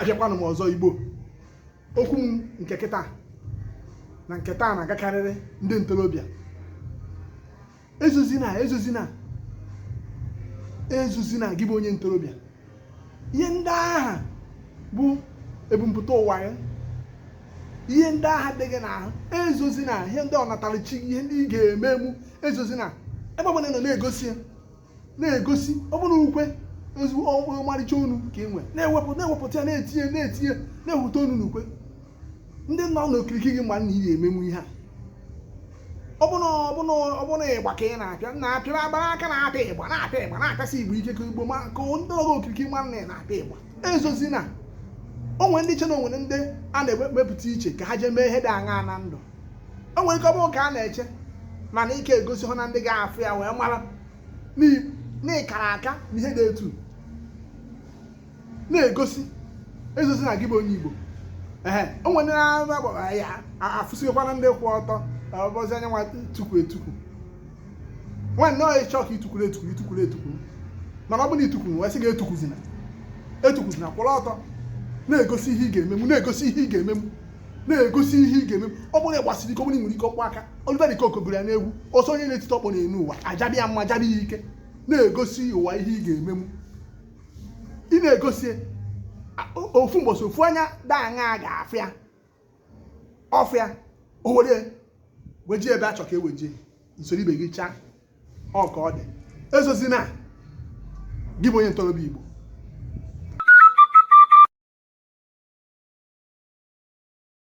abịakwanụ m ọzọ igbo okwu m nke kịta na nke taa na-agakarịrị ndị ntorobịa ezozina ezozina ezozina gị bụ onye ntorobịa ihe ndị ahụ bụ ebumpụta ụwa ya ihe ndị ahụ dị gị n'ahụ ezozina ihe ndị ọnatarachi ihe ndị ị ga-emenwu ezozina ebe ọbụla ị nọ na-egosi ya na-egosi ọ bụrụ ukwe ezigbo ọmarịcha onu ka ị nwere na-ewepụta na-ewepụta ya na-etinye na-etinye na-ewepụta onu n'ukwe ndị nọ n'okirikiri gị ma na ị ga-emenwu ihe a ọ bụrụ ịgba ka ị na-apịa na-apịa agbara aka na-apịa ịgba na-apịa ịgba na-apịasi ịgba ike ka igbo ma ka ndị nọ okirikiri ma na ị na-apịa ịgba ezozina o nwere ndị che na o nwere ndị a na-ewepụta iche ka ha jee mee ihe dị aṅaa na ndụ o nwere ike ọ bụrụ ka a na-eche mana ike egosi hụ na ndị ga-afụ ya wee mara na ị kara aka na ihe dị etu na-egosi ezozina gị bụ onye Igbo ee o nwere na-agbara ya afụsịghịkwanụ ndị kwụ ọtọ ọ bụzi onye nwa tukwu etukwu nwanne ị chọọ ka i tukwuru etukwuru i tukwuru etukwuru mana ọ bụrụ na i tukwuru wee sị gị etukwuzina etukwuzina kwụrụ ọtọ na-egosi ihe ị ga-emenwu na-egosi ihe ị ga-emenwu na-egosi ihe ị ga-emenwu ọ bụrụ na ị gbasiri ike ọ bụrụ na i nwere ike ọkpọ aka Oliver de Coque gụrụ ya n'egwu ọ sị onye na-etite ọkpọ n'enu ụwa a jaba ya mma a jaba ya ike na-egosi ụwa ihe ị ga-emenwu ị na-egosi ofu mbọsị ofu onye dị aṅaa ga-afụ ya ọ fụ ya o were weje gị ebe a chọ ka e weje gị i soro ibe gị chaa ọ ka ọ dị ezozina gị bụ onye ntorobịa Igbo